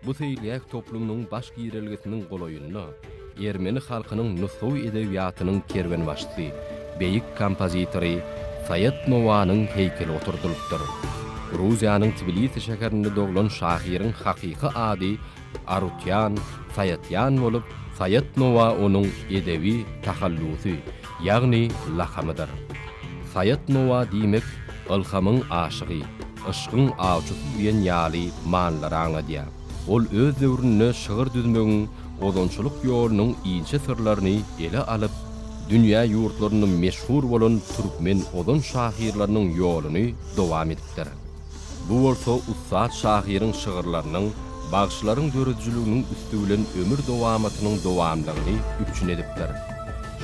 Bu seýilgäh toplumynyň baş girelgesiniň golaýynda ermeni halkynyň nusgawy edebiýatynyň kerwenbaşysy, beýik kompozitory Saýat Nowanyň heýkeli oturdylypdyr. Gruziýanyň Tbilisi şäherinde doglan şahyryň hakyky ady Arutýan, Saýatýan bolup, Saýat Nowa onuň edebi tahallusy, ýagny lakamydyr. Saýat Nowa diýmek ylhamyň aşygy, yşgyň awçysy diýen ýaly manylar aňladýar. Ol öz döwründe şygyr düzmegiň ozançylyk ýolunyň inçe syrlaryny ele alyp, dünýä ýurtlarynda meşhur bolan türkmen ozan şahyrlarynyň ýoluny dowam edipdir. Bu bolsa ussat şahyryň şygyrlarynyň bagşylaryň döredijiliginiň üsti bilen ömür dowamatynyň dowamlygyny üpjün edipdir.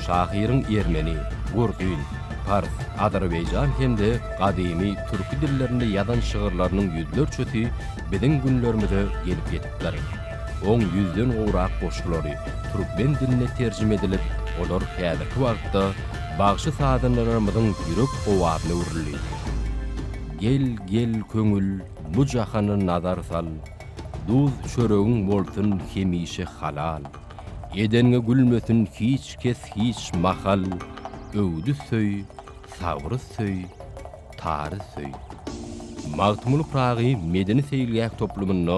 Şahyryň ermeni, gurzyň, pars, azerbaýjan hem-de gadymy türki dillerinde ýazan şygyrlarynyň ýüzlerçesi biziň günlerimize gelip ýetipdir. Oň ýüzden gowrak goşgulary türkmen diline terjime edilip, olar häzirki wagtda bagşy-sazandalarymyzyň ýürek owazyna öwrüldi. Gel, gel, köňül, bu jahana nazar sal, Duz çöregiň bolsun hemişe halal. Edenge gülmesin hiç kes hiç mahal, Öwdi söý, sabry söý, tary söý. Magtymguly Pyragy medeni-seýilgäh toplumynda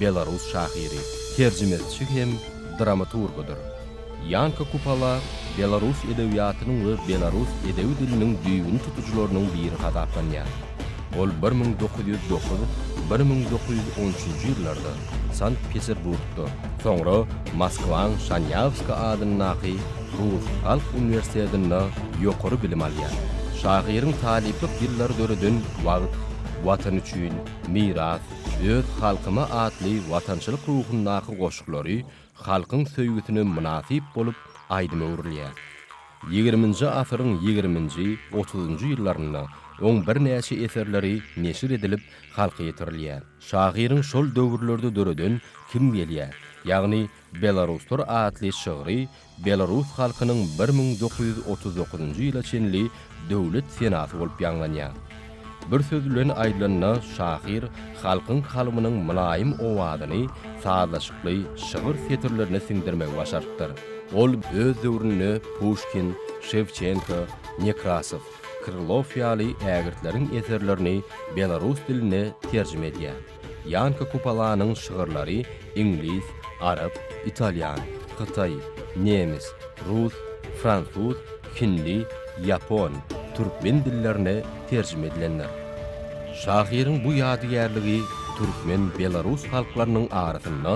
Belarus şahyry, terjimesi hem dramaturgydyr. Ýanka Kupala belarus edebiýatynyň we belarus edebi diliniň düýbüni tutujylarynyň biri hasaplanýar. Ol bir müň dokuz ýüz dokuz, bir müň dokuz ýüz on üçünji ýyllarda Sankt-Peterburgda, soňra Moskwaň Şanýawska adyndaky rus halk uniwersitetinde ýokary bilim alýar. Şahyryň talyplyk ýyllary döreden Wagt, Watan üçin, Miras, Öz halkyma atly watançylyk ruhundaky goşgulary halkyň söýgüsine mynasyp bolup aýdyma öwrülýär. Ýigriminji asyryň ýigriminji, otuzynjy ýyllarynda oň birnäçe eserleri neşir edilip, halka ýetirilýär. Şahyryň şol döwürlerde döreden Kim gelýär? ýagny Belaruslar atly şygry Belarus halkynyň bir müň dokuz ýüz otuz dokuzynjy ýyla çenli döwlet senasy bolup ýaňlanýar. Bir söz bilen aýdylanda, şahyr halkyň kalbynyň mylaýym owazyny sazlaşykly şygyr setirlerine siňdirmegi başarypdyr. Ol öz döwründe Puşkin, Şewçenko, Nekrasow, Krylow ýaly ägirtleriň eserlerini belarus diline terjime edýär. Ýanka Kupalanyň şygyrlary iňlis, arap, italýan, hytaý, nemes, rus, fransuz, hindi, ýapon, türkmen dillerine terjime edilendir. Şahyryň bu ýadygärligi türkmen-belarus halklarynyň arasynda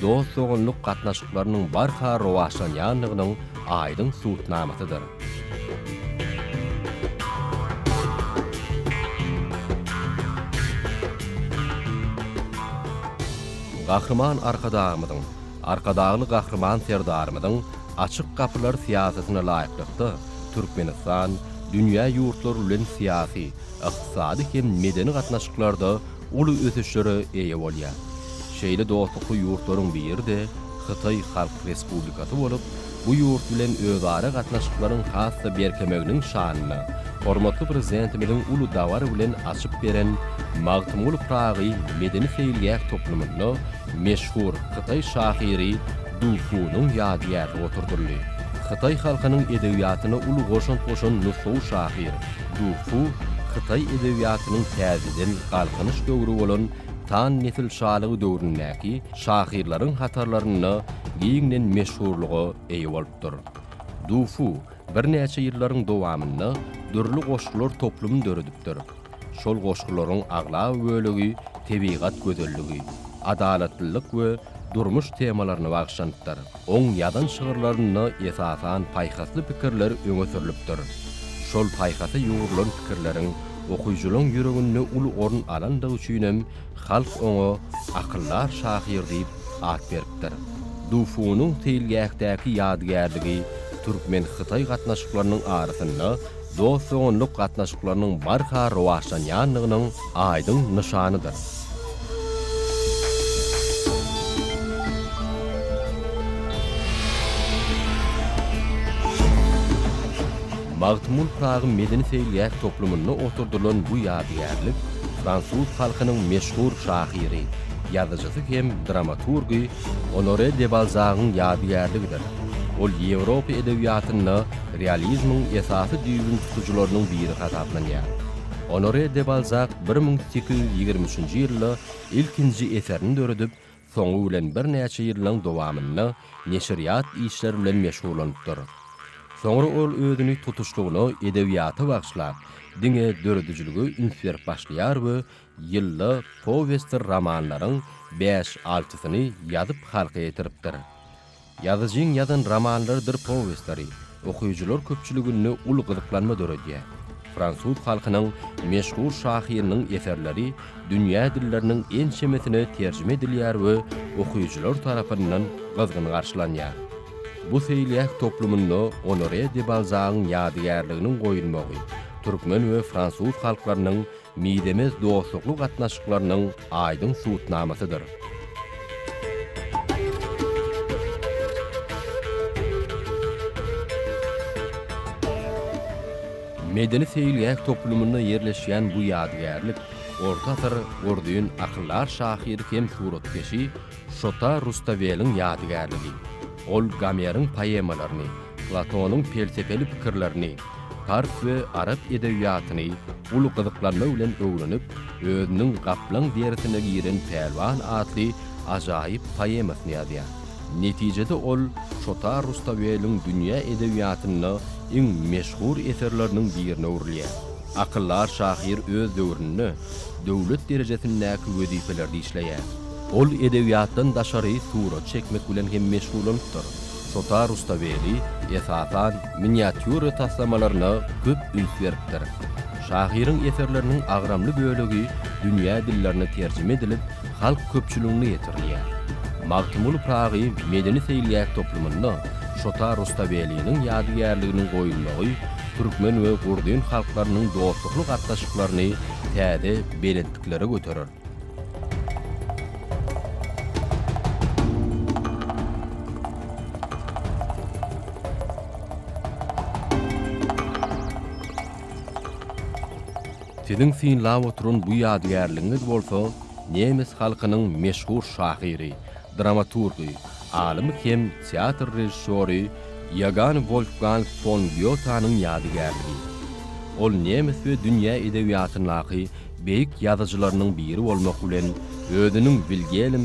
dost-doganlyk gatnaşyklarynyň barha rowaçlanýandygynyň aýdyň subutnamasydyr. Gahryman Arkadagymyzyň, Arkadagly Gahryman Serdarymyzyň Açyk gapylar syýasatyna laýyklykda, Türkmenistan dünýä ýurtlary bilen syýasy, ykdysady hem medeni gatnaşyklarda uly ösüşlere eýe bolýar. Şeýle dostlukly ýurtlaryň biri-de Hytaý Halk Respublikasy bolup, bu ýurt bilen özara gatnaşyklaryň has-da berkemeginiň şanyna hormatly Prezidentimiziň uly dabara bilen açyp beren Magtymguly Pyragy medeni-seýilgäh toplumynda meşhur hytaý şahyry Du Funyň ýadygärligi oturdyldy. Hytaý halkynyň edebiýatyna uly goşant goşan nusgawy şahyr, Du Fu hytaý edebiýatynyň täzeden galkynyş döwri bolan Tan nesil şalygy döwründäki şahyrlaryň hatarlarynda giňden meşhurlyga eýe bolupdyr. Du Fu birnäçe ýyllaryň dowamynda dürli goşgular toplumyny döredipdir. Şol goşgularyň aglaba bölegi tebigat gözelligi, adalatlylyk we durmuş temalaryna bagyşlanypdyr. Oň ýazan şygyrlarynda esasan paýhasly pikirler öňe sürlüpdir. Şol paýhasa ýugrulan pikirleriň okyjylaň ýüreginde uly orun alandygy üçinem halk oňa Akyldar şahyr diýip at beripdir. Dufunyň seýilgähdäki ýadygärligi türkmen-hytaý gatnaşyklarynyň arasynda dost-doganlyk gatnaşyklarynyň barha rowaçlanýandygynyň aýdyň nyşanydyr. Magtymguly Pyragy medeni-seýilgäh toplumynda oturdylan bu ýadygärlik fransuz halkynyň meşhur şahyry, ýazyjysy hem dramaturgy Onore de Balzagyň ýadygärligidir. Ol Ýewropa edebiýatynda realizmiň esasy düýbüni tutujylarynyň biri hasaplanýar. Onore de Balzak bir müň sekiz ýüz ýigrimi üçünji ýylda ilkinji eserini döredip, soňy bilen birnäçe ýyllaň dowamynda neşirýat işleri bilen meşgullanypdyr. Soňra ol özüni tutuşlygyna edebiýata bagyşlap, diňe döredijilige üns berip başlaýar we ýylda powestdir romanlaryň bäş-altysyny ýazyp halka ýetiripdir. Ýazyjyň ýazan romanlarydyr powestleri okyjylar köpçüliginde uly gyzyklanma döredýär. Fransuz halkynyň meşhur şahyrynyň eserleri dünýä dilleriniň ençemesine terjime edilýär we okyjylar tarapyndan gyzgyn garşylanýar. Bu seýilgäh toplumynda Onore de Balzagyň ýadygärliginiň goýulmagy türkmen we fransuz halklarynyň mizemez dostlukly gatnaşyklarynyň aýdyň subutnamasydyr. Medeni-seýilgäh toplumynda ýerleşýän bu ýadygärlik orta asyr gordyn akyldar şahyry hem suratkeşi Şota Rustaweliň ýadygärligi. Ol Gomeriň poemalaryny, Platonyň pelsepeli pikirlerini, pars we arap edebiýatyny uly gyzyklanma bilen öwrenip, özüniň Gaplaň derisine giren pälwan atly ajaýyp poemasyny ýazýar. Netijede ol Şota Rustaweliň dünýä edebiýatynda iň meşhur eserleriniň birine öwrülýär. Akyldar şahyr öz döwründe döwlet derejesindäki wezipelerde işleýär. Ol edebiýatdan daşary surat çekmek bilen hem meşgullanypdyr. Şota Rustaveli, esasan, miniatýura taslamalaryna köp üns beripdir. Şahyryň eserleriniň agramly bölegi dünýä dillerine terjime edilip, halk köpçüligine ýetirilýär. Magtymguly Pyragy medeni seýilgäh toplumynda Şota Rustaveliniň ýadygärliginiň goýulmagy türkmen we gruzin halklarynyň dostlukly gatnaşyklaryny täze belentliklere göterer. Siziň synlap oturan bu ýadygärligiňiz bolsa nemes halkynyň meşhur şahyry, dramaturgy, alymy hem teatr režissýory Ýogan Wolfgang fon Gýotanyň ýadygärligi. Ol nemes we dünýä edebiýatyndaky Beýik ýazyjylarynyň biri bolmak bilen, özüniň Wilgelm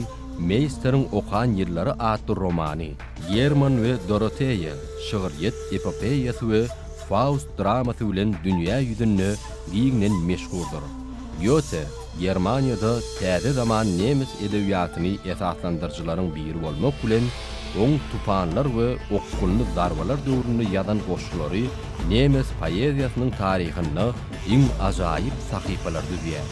Meýsteriň okan ýyllary atly romany, German we Doroteýa şygyrýet epopeýasy we Faust dramasy bilen dünýä ýüzünde giňden meşhurdyr. Gýote Germaniýada täze zaman nemes edebiýatyny esaslandyryjylaryň biri bolmak bilen, oň Tupanlar we Okgunly zarbalar döwründe ýazan goşgulary nemes poeziýasynyň taryhynda iň ajaýyp sahypalary düzýär.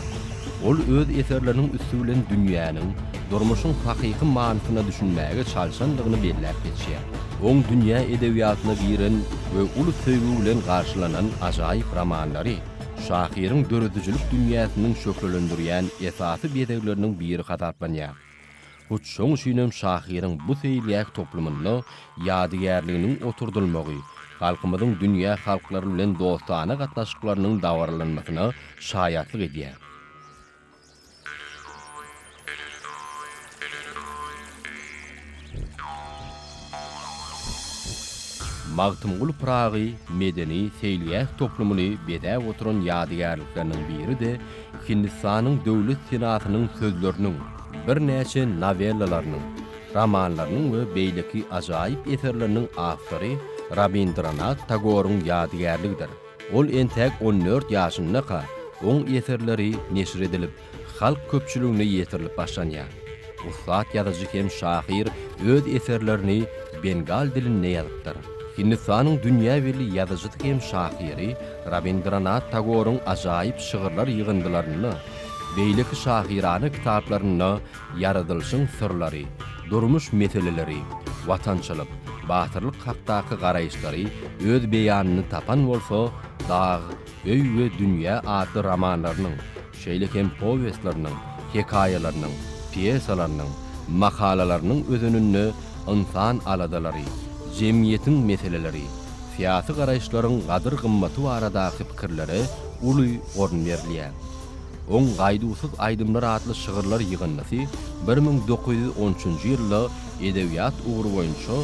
Ol öz eserleriniň üsti bilen dünýäniň, durmuşyň hakyky manysyna düşünmäge çalşandygyny belläp geçýär. Oň dünýä edebiýatyna giren we uly söýgi bilen garşylanan ajaýyp romanlary şahyryň döredijilik dünýäsiniň şöhlelendirýän esasy bezegleriniň biri hasaplanýar. Hut şoň üçinem şahyryň bu seýilgäh toplumynda ýadygärliginiň oturdylmagy, halkymyzyň dünýä halklary bilen dostana gatnaşyklarynyň dabaralanmasyna şaýatlyk edýär. Magtymguly Pyragy medeni-seýilgäh toplumyny bezäp oturan ýadygärlikleriniň biri-de Hindistanyň Döwlet senasynyň sözleriniň, birnäçe nowellalarynyň, romanlarynyň we beýleki ajaýyp eserleriniň awtory Rabindranat Tagoryň ýadygärligidir. Ol entäk on dört ýaşyndaka oň eserleri neşir edilip, halk köpçüligine ýetirilip başlanýar. Ussat ýazyjy hem şahyr öz eserlerini bengal dilinde ýazypdyr. Hindistanyň dünýä belli ýazyjysy hem şahyry Rabindranat Tagoryň ajaýyp şygyrlar ýygyndylarynda, beýleki şahyrana kitaplarynda ýaradylyşyň syrlary, durmuş meseleleri, watançylyk, batyrlyk hakdaky garaýyşlary öz beýanyny tapan bolsa, Dag, öý we dünýä atly romanlarynyň, şeýle hem powestleriniň, hekaýalarynyň, pýesalarynyň, makalalarynyň özeninde ynsan aladalary, jemgyýetiň meseleleri, syýasy garaýyşlaryň gadyr-gymmaty baradaky pikirlere uly orun berilýär. Oň Gaýduwsyz aýdymlar atly şygyrlar ýygyndysy bir müň dokuz ýüz on üçünji ýylda edebiýat ugry boýunça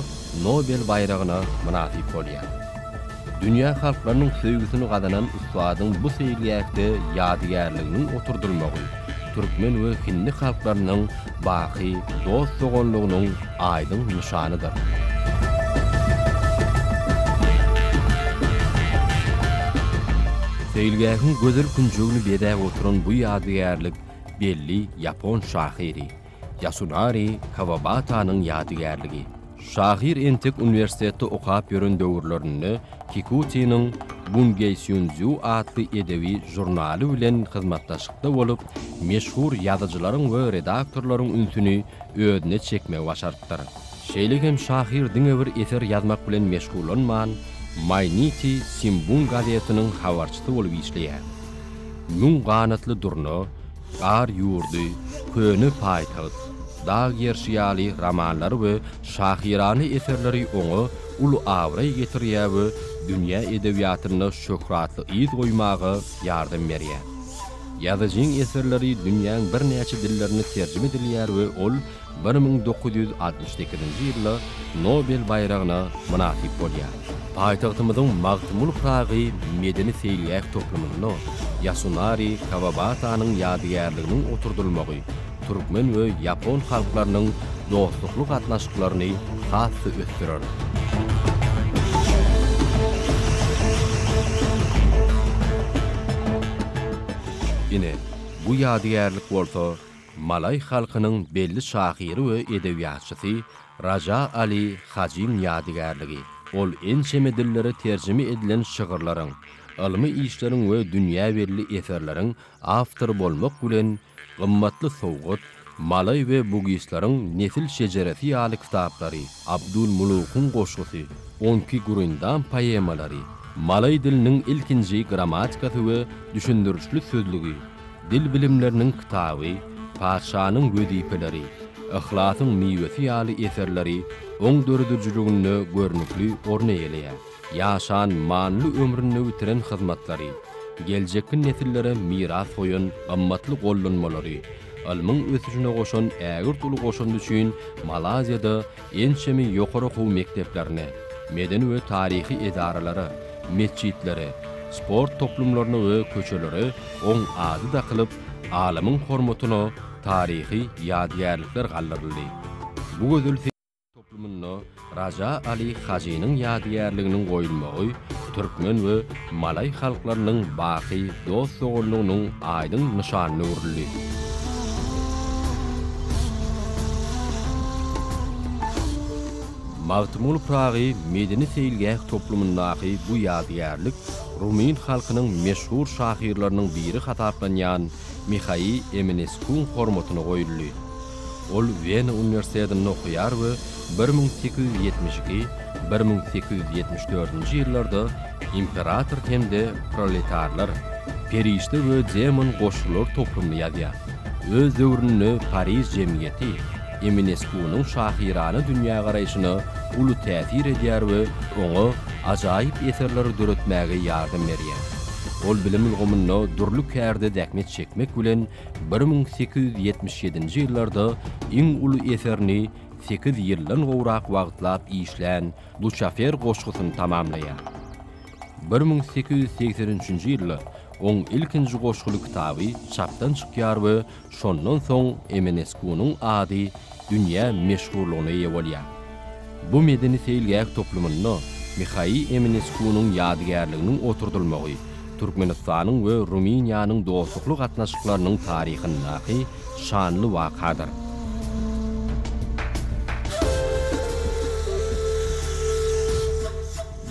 Nobel baýragyna mynasyp bolýar. Dünýä halklarynyň söýgüsini gazanan ussadyň bu seýilgähde ýadygärliginiň oturdylmagy türkmen we hindi halklarynyň baky dost-doganlygynyň aýdyň nyşanydyr. Seýilgähiň gözel künjegini bezäp oturan bu ýadygärlik belli ýapon şahyry, Ýasunari Kawabatanyň ýadygärligi. Şahyr entek uniwersitetde okap ýören döwürlerinde Kikutiniň Bungeýsýunzýu atly edebi žurnaly bilen hyzmatdaşykda bolup, meşhur ýazyjylaryň we redaktorlaryň ünsüni özüne çekmegi başarypdyr. Şeýle hem şahyr diňe bir eser ýazmak bilen meşgullanman, Maýniti Simbun gazetiniň habarçysy bolup işleýär. Müň ganatly durna, Gar ýurdy, Köne paýtagt, Dag gerşi ýaly romanlary we şahyrana eserleri oňa uly abraý getirýär we dünýä edebiýatynda şöhratly yz goýmaga ýardam berýär. Ýazyjyň eserleri dünýäň birnäçe dillerine terjime edilýär we ol bir müň dokuz ýüz altmyş sekizinji ýylda Nobel baýragyna mynasyp bolýar. Paýtagtymyzyň Magtymguly Pyragy medeni-seýilgäh toplumynda Ýasunari Kawabasanyň ýadygärliginiň oturdylmagy türkmen we ýapon halklarynyň dostlukly gatnaşyklaryny has-da ösdürer. Ine, bu ýadygärlik bolsa Malaý halkynyň belli şahyry we edebiýatçysy Raja Ali Hajyň ýadygärligi, ol ençeme dillere terjime edilen şygyrlaryň, ylmy işleriň we dünýä belli eserleriň awtory bolmak bilen, Gymmatly sowgat, Malaý we bugislaryň nesil şejeresi ýaly kitaplary, Abdulmulukyň goşgusy, Onki Gurindam poemalary, Malaý diliniň ilkinji grammatikasy we düşündirişli sözlügi, Dil bilimleriniň kitaby, Patyşanyň wezipeleri, Yhlasyň miwesi ýaly eserleri oň döredijiliginde görnükli orun eýeleýär. Ýaşan, manyly ömründe bitiren hyzmatlary, geljekki nesillere miras goýan gymmatly gollanmalary, ylmyň ösüşine goşan ägirt uly goşandy üçin Malaýziýada Ençeme ýokary okuw mekdeplerine, medeni we taryhy edaralara, metjitlere, sport toplumlaryna we köçelere oň ady dakylyp, alymyň hormatyna taryhy ýadygärlikler galdyryldy. Bu gözel syýahat toplumynda Raja Aly Hajynyň ýadygärliginiň goýulmagy türkmen we Malaý halklarynyň baky dost-doganlygynyň aýdyň nyşanyna öwrüldi. Magtymguly Pyragy medeni-seýilgäh toplumyndaky bu ýadygärlik rumyn halkynyň meşhur şahyrlarynyň biri hasaplanýan Mihaý Emineskuň hormatyna goýuldy. Ol Wena uniwersitetinde okaýar we bir müň sekiz ýüz ýetmiş iki, bir müň sekiz ýüz ýetmiş dördünji ýyllarda Imperator hem-de Proletarlar, Perişde we Demon goşgulary toplumyny ýazýar. Öz döwründe Pariž jemgyýeti Emineskunyň şahyrana dünýägaraýşyna uly täsir edýär we oňa ajaýyp eserleri döretmäge ýardam berýär. Ol bilim ulgamynda dürli kärde zähmet çekmek bilen, bir müň sekiz ýüz ýetmiş ýedinji ýyllarda iň uly eserini sekiz ýyldan gowrak wagtlap işlän Duçafer goşgusyny tamamlaýar. Bir müň sekiz ýüz segsen üçünji ýylda oň ilkinji goşguly kitaby çapdan çykýar we şondan soň Emeneskunyň ady dünýä meşhurlygyna eýe bolýar. Bu medeni-seýilgäh toplumynda Mihaý Emineskunyň ýadygärliginiň oturdylmagy Türkmenistanyň we Rumyniýanyň dostlukly gatnaşyklarynyň taryhyndaky şanly wakadyr.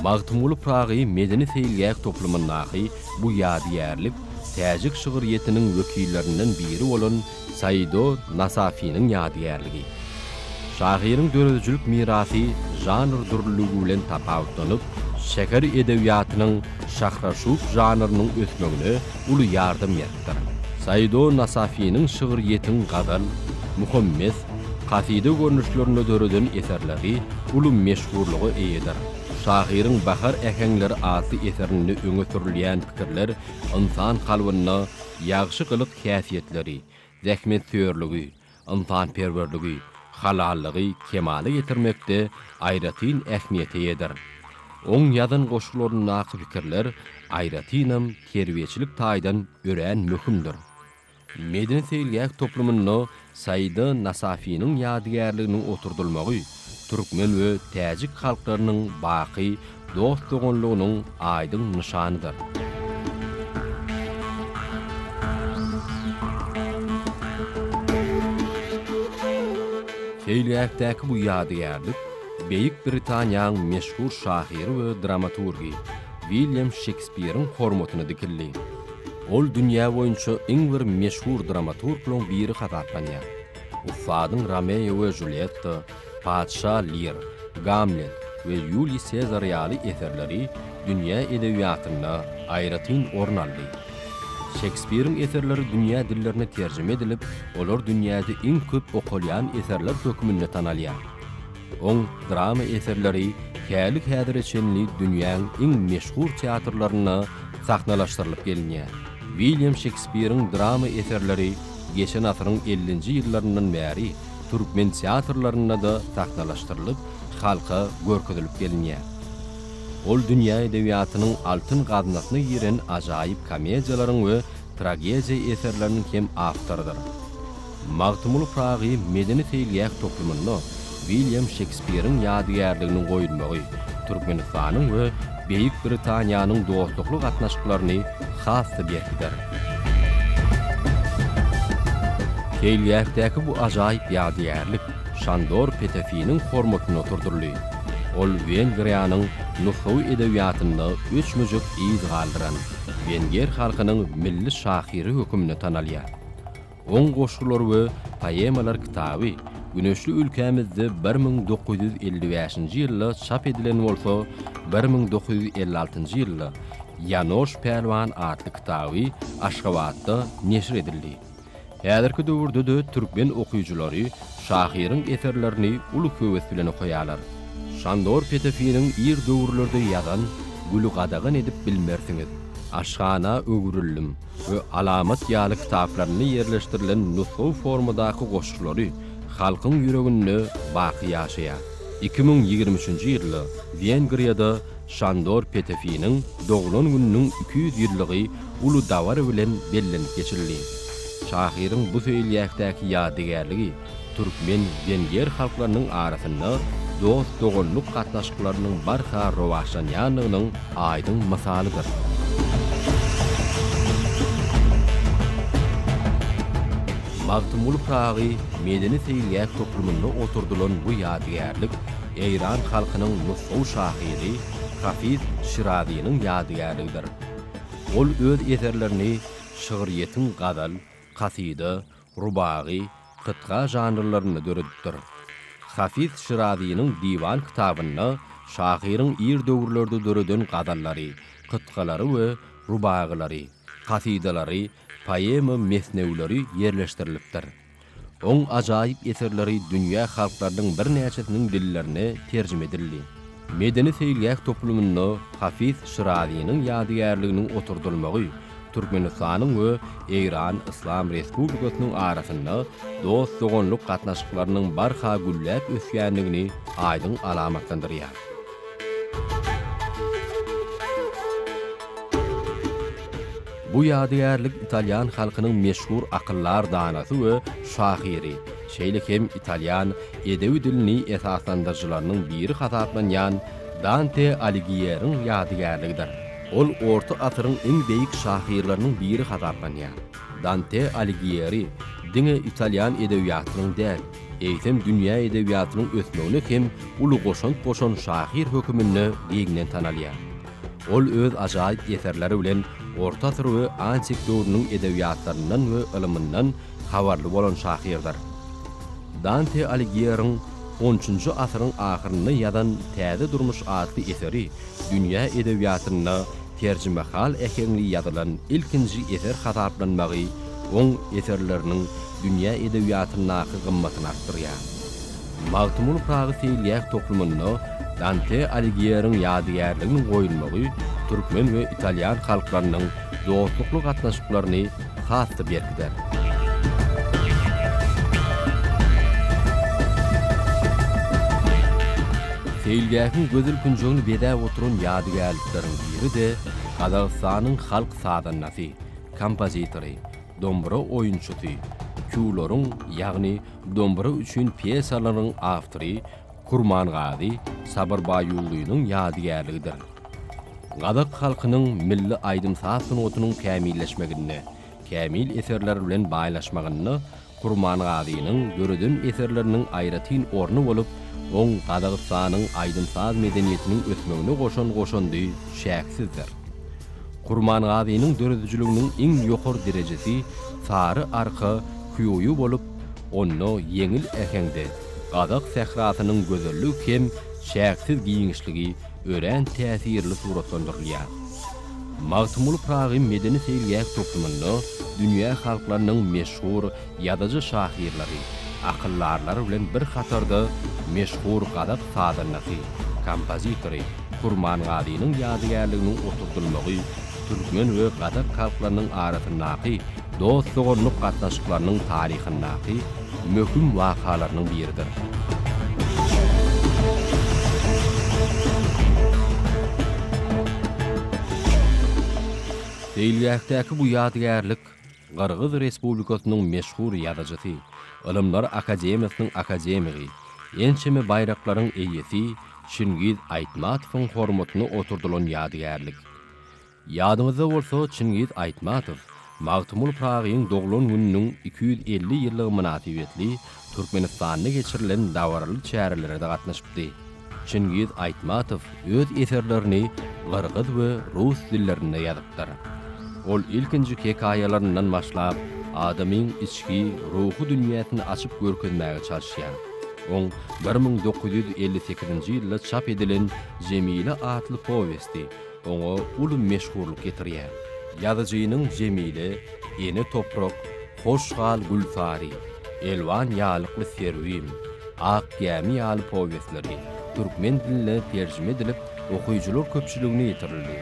Magtymguly Pyragy medeni-seýilgäh toplumyndaky bu ýadygärlik täjik şygryýetiniň wekillerinden biri bolan Saido Nasafiniň ýadygärligi. Şahyryň döredijilik mirasy žanr dürlüligi bilen tapawutlanyp, şäher edebiýatynyň şahraşup žanrynyň ösmegine uly ýardam beripdir. Saido Nasafiniň şygryýetiň gazal, muhammes, kasyda görnüşlerinde döreden eserleri uly meşhurlyga eýedir. Şahyryň Bahar äheňleri atly eserinde öňe sürülýän pikirler ynsan kalbynda ýagşy gylyk häsiýetleri, zähmetsöýerligi, ynsanperwerligi, halallygy kemala getirmekde aýratyn ähmiýete eýedir. Oň ýazan goşgularyndaky pikirler aýratynam terbiýeçilik taýdan örän möhümdir. Medeni-seýilgäh toplumynda Saida Nasafiniň ýadygärliginiň oturdylmagy türkmen we täjik halklarynyň baky dost-doganlygynyň aýdyň nyşanydyr. Seýilgähdäki bu ýadygärlik Beýik Britaniýaň meşhur şahyry we dramaturgy William Şekspiriň hormatyna dikildi. Ol dünýä boýunça iň bir meşhur dramaturglaryň biri hasaplanýar. Ussadyň Romeo we Julietta, Patyşa Lir, Gamlet we Ýuliý Sezar ýaly eserleri dünýä edebiýatynda aýratyn orun aldy. Şekspiriň eserleri dünýä dillerine terjime edilip, olar dünýäde iň köp okalýan eserler hökmünde tanalýar. Oň drama eserleri häli-häzire çenli dünýäň iň meşhur teatrlarynda sahnalaşdyrylyp gelinýär. Wilýam Şekspiriň drama eserleri geçen asyryň ellinji ýyllaryndan bäri türkmen teatrlarynda-da sahnalaşdyrylyp, halka görkezilip gelinýär. Ol dünýä edebiýatynyň altyn gaznasyna giren ajaýyp komediýalaryň we tragediýa eserleriniň hem awtorydyr. Magtymguly Pyragy medeni-seýilgäh toplumynda Wilýam Şekspiriň ýadygärliginiň goýulmagy Türkmenistanyň we Beýik Britaniýanyň dostlukly gatnaşyklaryny has-da berkider. Seýilgähdäki bu ajaýyp ýadygärlik Şandor Petefiniň hormatyna oturdyldy. Ol Wengriýanyň nusgawy edebiýatynda öçmejek yz galdyran wenger halkynyň milli şahyry hökmünde tanalýar. Oň goşgular we poemalar kitaby güneşli ülkämizde bir müň dokuz ýüz elli bäşinji ýylda çap edilen bolsa, bir müň dokuz ýüz elli altynjy ýylda Ýanoş Pälwan atly kitaby Aşgabatda neşir edildi. Häzirki döwürde-de türkmen okyjylary şahyryň eserlerini uly höwes bilen okaýarlar. Şandor Petefiniň ir döwürlerde ýazan Güli gadagan edip bilmersiňiz, Aşhana öwrüldim. we Alamat ýaly kitaplarynda ýerleşdirilen nusgawy formadaky goşgulary halkyň ýüreginde baky ýaşaýar. Iki müň ýigrimi üçünji ýylda Wengriýada Şandor Petefiniň doglan gününiň iki ýüz ýyllygy uly dabara bilen bellenip geçildi. Şahyryň bu seýilgähdäki ýadygärligi Türkmen, wenger halklarynyň arasynda dost-doganlyk gatnaşyklarynyň barha rowaçlanýandygynyň aýdyň mysalydyr. Magtymguly Pyragy medeni-seýilgäh toplumynda oturdylan bu ýadygärlik eýran halkynyň nusgawy şahyry Hafiz Şirazynyň ýadygärligidir. Ol öz eserlerini şygryýetiň gazal, kasyda, rubagy, kytga žanrlarynda döredipdir. Hafiz Şirazynyň Diwan kitabynda şahyryň ir döwürlerde döreden gazallary, kytgalary we rubagylary, kasydalary, poema, mesnewleri ýerleşdirilipdir. Oň ajaýyp eserleri dünýä halklarynyň birnäçesiniň dillerine terjime edildi. Medeni-seýilgäh toplumynda Hafiz Şirazynyň ýadygärliginiň oturdylmagy Türkmenistanyň we Eýran Yslam Respublikasynyň arasynda dost-doganlyk gatnaşyklarynyň barha gülläp ösýändigini aýdyň alamatlandyrýar. Bu ýadygärlik italýan halkynyň meşhur akyldar danasy we şahyry, şeýle hem italýan edebi dilini esaslandyryjylarynyň biri hasaplanýan Dante Aligieriň ýadygärligidir. Ol orta asyryň iň beýik şahyrlarynyň biri hasaplanýar. Dante Aligiýeri diňe italýan edebiýatynyň däl, eýsem dünýä edebiýatynyň ösmegine hem uly goşant goşan şahyr höküminde giňden tanalýar. Ol öz ajaýyp eserleri bilen orta asyr we antik döwrüniň edebiýatlaryndan we ylmyndan habarly bolan şahyrdyr. Dante Aligiýeriň on üçünji asyryň ahyrynda ýazan Täze durmuş atly eseri dünýä edebiýatynda terjimehal äheňli ýazylan ilkinji eser hasaplanmagy oň eserleriniň dünýä edebiýatyndaky gymmatyny artdyrýar. Magtymguly Pyragy seýilgäh toplumynda Dante Aligieriň ýadygärliginiň goýulmagy türkmen we italýan halklarynyň dostlukly gatnaşyklaryny has-da berkider. Seýilgähiň gözel künjegini bezäp oturan ýadygärlikleriň biri-de Gazagystanyň halk sazandasy, kompozitory, dombura oýunçysy, kýularyň, ýagny dombura üçin pýesalaryň awtory Kurmangazy Sabyr Baýullynyň ýadygärligidir. Gazak halkynyň milli aýdym-saz sungatynyň kämilleşmeginde, kämil eserler bilen baýlaşmagynda Kurmangazynyň döreden eserleriniň aýratyn orny bolup, oň Gazagystanyň aýdym-saz medeniýetiniň ösmegine goşan goşandy çäksizdir. Kurmangazynyň döredijiliginiň iň ýokary derejesi Sary arka hýuýy bolup, onda ýeňil äheňde, Gazak sährasynyň gözelligi hem çäksiz giňişligi örän täsirli suratlandyrylýar. Magtymguly Pyragy medeni-seýilgäh toplumynda dünýä halklarynyň meşhur ýazyjy-şahyrlary, akyldarlary bilen bir hatarda meşhur gazak sazandasy, kompozitory Kurmangazynyň ýadygärliginiň oturdylmagy türkmen we gazak halklarynyň arasyndaky dost-doganlyk gatnaşyklarynyň taryhyndaky möhüm wakalarynyň biridir. Seýilgähdäki bu ýadygärlik Gyrgyz Respublikasynyň meşhur ýazyjysy, Ylymlar akademiýasynyň akademigi, ençeme baýraklaryň eýesi Çingiz Aýtmatowyň hormatyna oturdylan ýadygärlik. Ýadyňyzda bolsa, Çingiz Aýtmatow Magtymguly Pyragyň doglan gününiň iki ýüz elli ýyllygy mynasybetli Türkmenistanda geçirilen dabaraly çärelere-de gatnaşypdy. Çingiz Aýtmatow öz eserlerini gyrgyz we rus dillerinde ýazypdyr. Ol ilkinji hekaýalaryndan başlap, adamyň içki, ruhy dünýäsini açyp görkezmäge çalyşýar. Oň bir müň dokuz ýüz elli sekizinji ýylda çap edilen Jemile atly powesti, oňa uly meşhurlyk getirýär. Ýazyjynyň Jemile, Ene toprak, Hoş gal Gülsary, Elwan ýalykly Serwin, Ak gämi ýaly powestleri türkmen diline terjime edilip, okyjylar köpçüligine ýetirildi.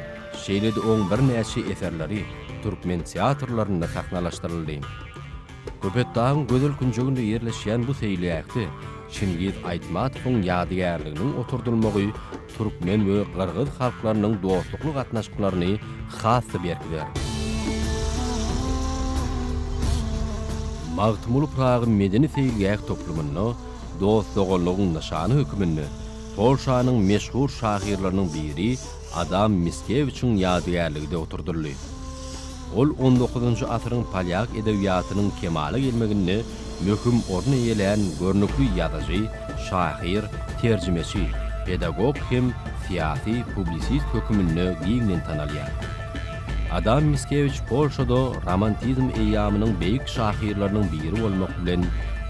Şeýle-de oň birnäçe eserleri türkmen teatrlarynda sahnalaşdyryldy. Köpetdagyň gözel künjeginde ýerleşýän bu seýilgähde Çingiz Aýtmatowyň ýadygärliginiň oturdylmagy türkmen we gyrgyz halklarynyň dostlukly gatnaşyklaryny has-da berkider. Magtymguly Pyragy medeni-seýilgäh toplumynda dost-doganlygyň nyşany hökmünde Polşanyň meşhur şahyrlarynyň biri Adam Miskewiçiň ýadygärligi-de oturdyldy. Ol on dokuzynjy asyryň polýak edebiýatynyň kemala gelmeginde möhüm orun eýelän görnükli ýazyjy, şahyr, terjimeçi, pedagog hem syýasy publisist höküminde giňden tanalýar. Adam Miskewiç Polşada romantizm eýýamynyň beýik şahyrlarynyň biri bolmak bilen,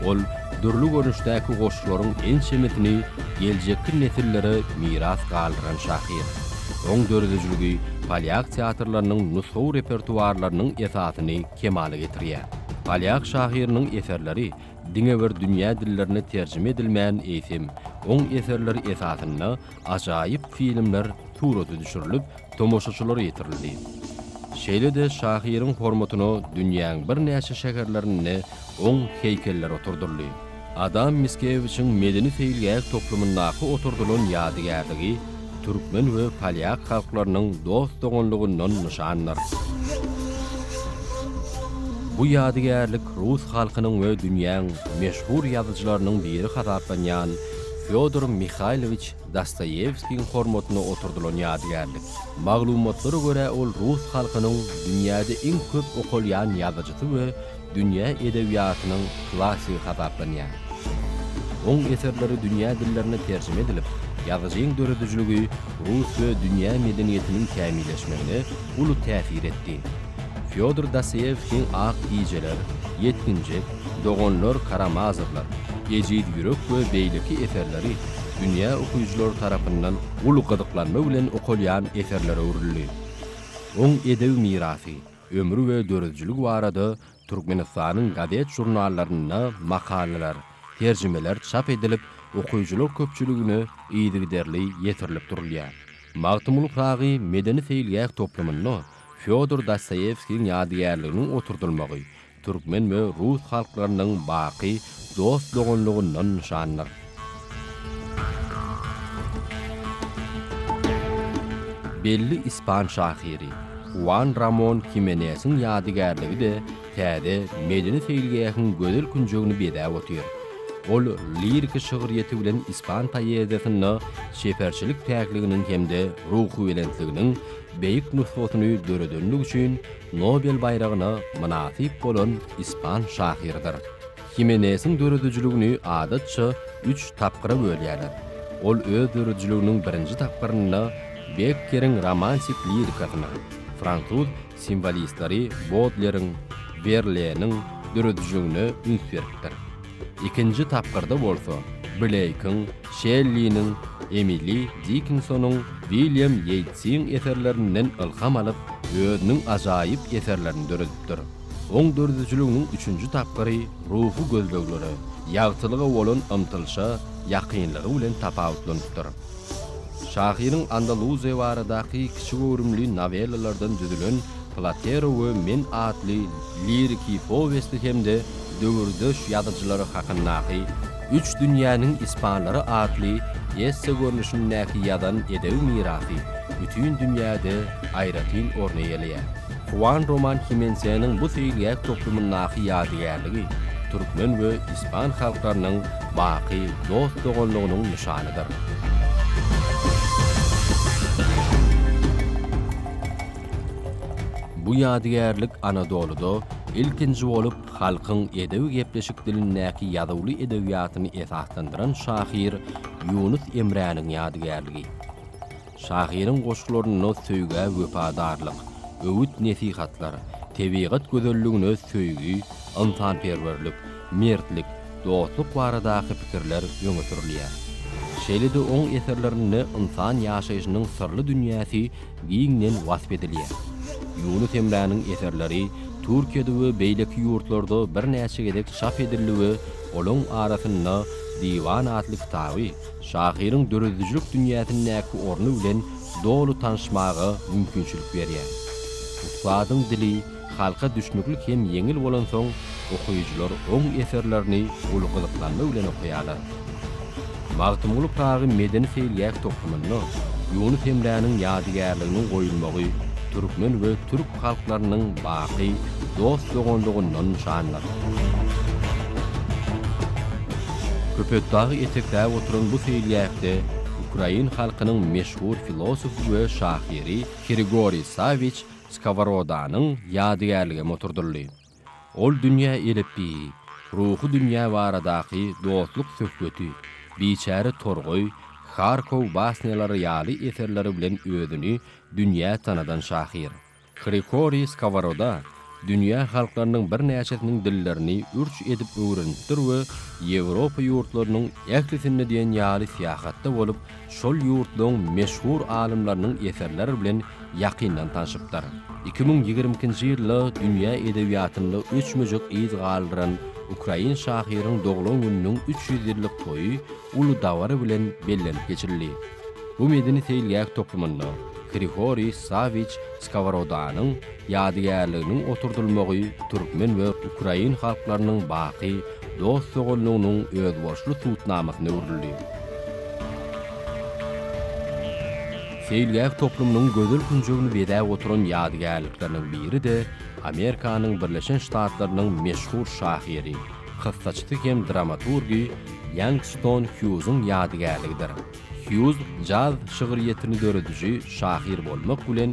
ol dürli görnüşdäki goşgularyň ençemesini geljekki nesillere miras galdyran şahyr. Oň döredijiligi polýak teatrlarynyň nusgawy repertuarlarynyň esasyny kemala getirýär. Polýak şahyrynyň eserleri diňe bir dünýä dillerine terjime edilmän, eýsem, oň eserleri esasynda ajaýyp filmler surata düşürilip, tomaşaçylara ýetirildi. Şeýle-de şahyryň hormatyna dünýäň birnäçe şäherlerinde oň heýkelleri oturdyldy. Adam Miskewiçiň medeni-seýilgäh toplumyndaky oturdylan ýadygärligi türkmen we polýak halklarynyň dost-doganlygyndan nyşandyr. Bu ýadygärlik rus halkynyň we dünýäň meşhur ýazyjylarynyň biri hasaplanýan Fýodor Mihaýlowiç Dostoýewskiň hormatyna oturdylan ýadygärlik. Maglumatlara görä, ol rus halkynyň dünýäde iň köp okalýan ýazyjysy we dünýä edebiýatynyň klassygy hasaplanýar. Oň eserleri dünýä dillerine terjime edilip, ýazyjyň döredijiligi rus we dünýä medeniýetiniň kämilleşmegine uly täsir etdi. Fýodor Dostoýewskiň Ak gijeler, Ýetginjek, Doganlar Karamazowlar, Ejiz ýürek we beýleki eserleri dünýä okyjylary tarapyndan uly gyzyklanma bilen okalýan eserlere öwrüldi. Oň edebi mirasy Ömri we döredijiligi barada Türkmenistanyň gazet-žurnallarynda makalalar, terjimeler çap edilip, okyjylar köpçüligine yzygiderli ýetirilip durulýar. Magtymguly Pyragy medeni-seýilgäh toplumynda Fýodor Dostoýewskiň ýadygärliginiň oturdylmagy Türkmen we rus halklarynyň baky dost-doganlygyndan nyşandyr. Belli ispan şahyry Huan Ramon Himenesiň ýadygärligi-de täze medeni-seýilgähiň gözel künjegini bezäp otyr. Ol liriki şygryýeti bilen ispan poeziýasynda çeperçilik päkliginiň hem-de ruhubelentliginiň beýik nusgasyny döredendigi üçin Nobel baýragyna mynasyp bolan ispan şahyrydyr. Himenesiň döredijiligini adatça üç tapgyra bölýärler. Ol öz döredijiliginiň birinji tapgyrynda Bekkeriň romantik lirikasyna, fransuz simwolistleri Bodleriň, Werleniň döredijiligine üns beripdir. Ikinji tapgyrda bolsa Bleýkiň, Şelliniň, Emili Dikinsonyň, Wilýam Ýeýtsiň eserlerinden ylham alyp, özüniň ajaýyp eserlerini döredipdir. Oň döredijiliginiň üçünji tapgyry ruhy gözleglere, ýagtylyga bolan ymtylyşa ýakynlygy bilen tapawutlanypdyr. Şahyryň Andaluziýa baradaky kiçi göwrümli nowellalardan düzülen Platero we men atly liriki powesti hem-de döwürdeş ýazyjylary hakyndaky Üç dünýäniň ispanlary atly esse görnüşindäki ýazan edebi mirasy bütin dünýäde aýratyn orun eýeleýär. Huan Roman Himensenyň bu seýilgäh toplumyndaky ýadygärligi türkmen we ispan halklarynyň baky dost-doganlygynyň nyşanydyr. Bu ýadygärlik Anadolyda ilkinji bolup halkyň edebi-gepleşik dilindäki ýazuwly edebiýatyny esaslandyran şahyr Ýunus Emräniň ýadygärligi. Şahyryň goşgularynda söýgä wepadarlyk, öwüt-nesihatlar, tebigat gözelligine söýgi, ynsanperwerlik, mertlik, dostluk baradaky pikirler öňe sürülýär. Şeýle-de oň eserlerinde ynsan ýaşaýşynyň syrly dünýäsi giňden wasp edilýär. Ýunus Emräniň eserleri Türkiýede we beýleki ýurtlarda birnäçe gezek çap edildi we olaň arasynda Diwan atly kitaby, şahyryň döredijilik dünýäsindäki orny bilen doly tanyşmaga mümkinçilik berýär. Ussadyň dili halka düşnükli hem ýeňil bolansoň, okyjylar oň eserlerini uly gyzyklanma bilen okaýarlar. Magtymguly Pyragy medeni-seýilgäh toplumynda Ýunus Emräniň ýadygärliginiň goýulmagy türkmen we türk halklarynyň baky dost-doganlygyndan nyşandyr. Köpetdagy etekläp oturan bu seýilgähde ukrain halkynyň meşhur filosofy we şahyry Hrigory Sawiç Skoworodanyň ýadygärligem oturdyldy. Ol dünýä elepbiýi, ruhy dünýä baradaky dostluk söhbeti, Biçäre torgaý, Harkow basnýalary ýaly eserleri bilen özüni dünýä tanadan şahyr. Hrikoriý Skoworoda dünýä halklarynyň birnäçesiniň dillerini ürç edip öwrenipdir we Ýewropa ýurtlarynyň ählisinde diýen ýaly syýahatda bolup, şol ýurtlaryň meşhur alymlarynyň eserleri bilen ýakyndan tanşypdyr. Iki müň ýigrimi ikinji ýylda dünýä edebiýatynda öçmejek yz galdyran ukrain şahyryň doglan gününiň üç ýüz ýyllyk toýy uly dabara bilen bellenip geçirildi. Bu medeni-seýilgäh toplumynda Hrihoriý Sawiç Skoworodanyň, ýadygärliginiň oturdylmagy türkmen we ukrain halklarynyň baky dost-doganlygynyň özboluşly subutnamasyna öwrüldi. Seýilgäh toplumynyň gözel künjegini bezäp oturan ýadygärlikleriniň biri-de Amerikanyň Birleşen Ştatlarynyň meşhur şahyry, kyssaçysy hem dramaturgy Ýangston Hýuzyň ýadygärligidir. Hýuz jaz şygryýetini dörediji şahyr bolmak bilen,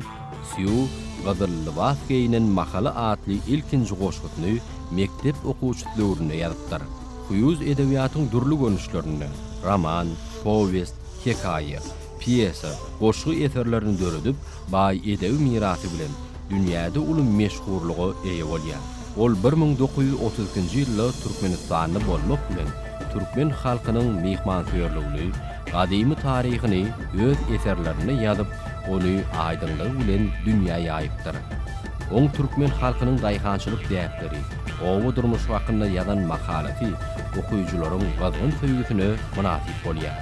Sýu gyzyl lybas geýnen mahaly atly ilkinji goşgusyny mekdep okuwçysy döwründe ýazypdyr. Hýuz edebiýatyň dürli görnüşlerinde, roman, powest, hekaýa, pýesa, goşgy eserlerini döredip, baý edebi mirasy bilen dünýäde uly meşhurlyga eýe bolýar. Ol bir müň dokuz ýüz otuz ikinji ýylda türkmenistanly bolmak bilen, türkmen halkynyň myhmansöýerligini, gadymy taryhyny öz eserlerinde ýazyp, ony aýdyňlygy bilen dünýä ýaýypdyr. Oň türkmen halkynyň daýhançylyk däpleri, oba durmuşy hakynda ýazan makalasy okyjylaryň gyzgyn söýgüsine mynasyp bolýar.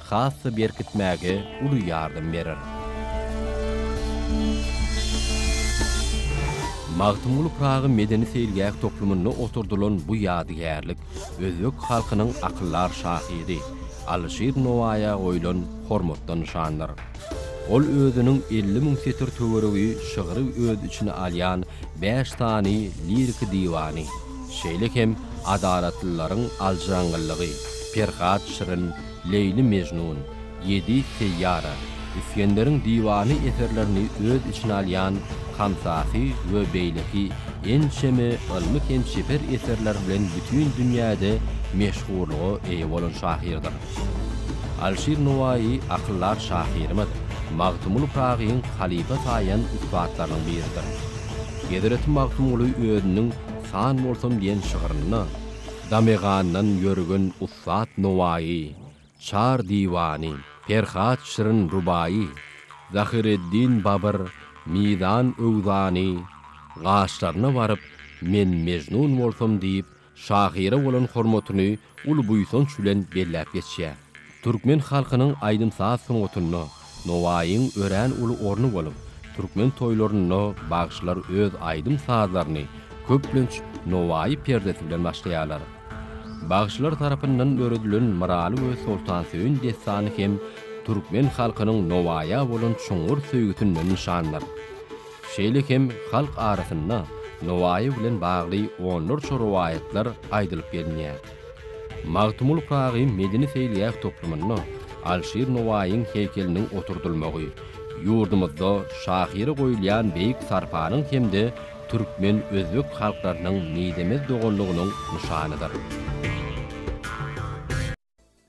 has-da berkitmäge uly ýardam berer. Magtymguly Pyragy medeni-seýilgäh toplumynda oturdylan bu ýadygärlik özbek halkynyň akyldar şahyry Alyşir Nowaýa goýlan hormatdan nyşandyr. Ol özüniň elli müň setir töweregi şygry öz içine alýan bäş sany liriki diwany, şeýle hem Adalatlylaryň aljyraňňyllygy, Perhat Şirin, Leýli-Mežnun, Ýedi seýýara, Isgenderiň diwany eserlerini öz içine alýan Hamsasy we beýleki ençeme ylmy hem çeper eserleri bilen bütin dünýäde meşhurlyga eýe bolan şahyrdyr. Alşir Nowaýy akyldar şahyrymyz Magtymguly Pyragyň halypa saýan ussatlarynyň biridir. Hezreti Magtymguly özüniň San bolsam diýen şygrynda, Damegandan ýörgün Sat Nowaýy, Çar diwany, Perhat şirin rubaýy, Zahyreddin Babyr, Mizan öwzany, gaşlaryna baryp, Men Mejnun bolsam diýip, şahyra bolan hormatyny uly buýsanç bilen belläp geçýär. Türkmen halkynyň aýdym-saz sungatynda Nowaýyň örän uly orny bolup, türkmen toýlarynda bagşylar öz aýdym-sazlaryny, köplenç, Nowaýy perdesi bilen başlaýarlar. Bagşylar tarapyndan döredilen Myraly we Soltansöýün dessany hem türkmen halkynyň Nowaýa bolan çuňňur söýgüsinden nyşandyr. Şeýle hem halk arasynda Nowaýy bilen bagly onlarça rowaýatlar aýdylyp gelinýär. Magtymguly Pyragyň medeni-seýilgäh toplumynda Alşir Nowaýyň heýkeliniň oturdylmagy ýurdumyzda şahyra goýulýan beýik sarpanyň hem-de türkmen-özbek halklarynyň mizemez doganlygynyň nyşanydyr.